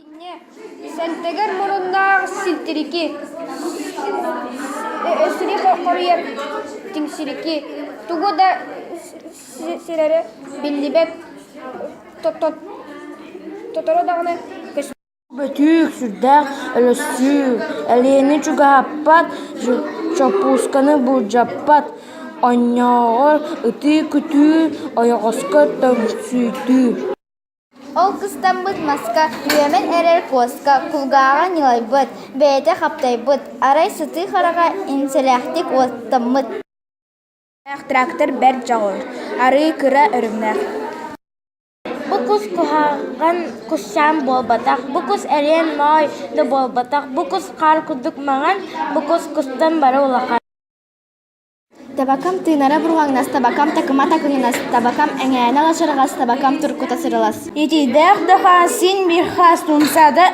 Инньэ, сэнтэгэр муруннаах силтирики, сири хоруйар тиҥсирики, тугу да сирэрэ биллибэт, тоторо даҕаны көстүбэт Бөтүүк сүрдээх өлөстүү, Элиэни чугаһаппат, Чоппуусканы былдьаппат, Оонньоогор ытыы-күтүү, Ойоҕоско төҥсүйтүү Ол кыстаммыт маска, үөмэн эрэр куоска, кулгааҕа ньылайбыт, бэйэтэ хаптайбыт, арай сытыы хараҕа инсэлээхтик уоттаммыт Трактор бэрт дьоҕур, арыы кыра өрүмнэх Бу кус куһаҕан кусчаан буолбатах, бу кус эриэн моой да буолбатах, бу кус хаар курдук маҥан, бу кус кустан бары улахан Табакам тыынара бурҕаҥнас, табакам такыма такыһынас, табакам эҥээнэ лачарҕас, табакам туркута сырылас. Итидээх да хаан син биир хаас тумса да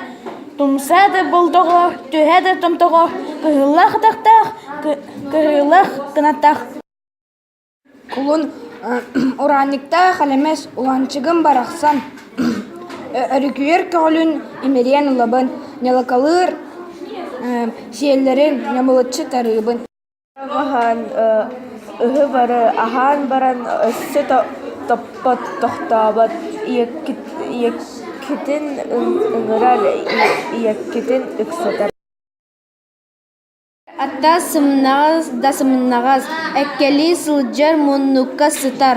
тумса да болдоҕо, түһэ да томтоҕо, кыһыллах атахтаах, кыһыллах кынатах. Кулун ураанньыктаах элэмэс Уланчыгым барахсан өрүкүйэр көҕүлүн имэрийэн ылабын, ньалакалыыр сиэллэрин ньамылыччы тарыыбын. Аһаан ыһы бары аһаан баран өссө топпот, тохтообот, ийэккитин ыҥырар, ийэккитин ыксатар Атта сымнаҕас да сымнаҕас, эккэлии сылдьар муннукка сытар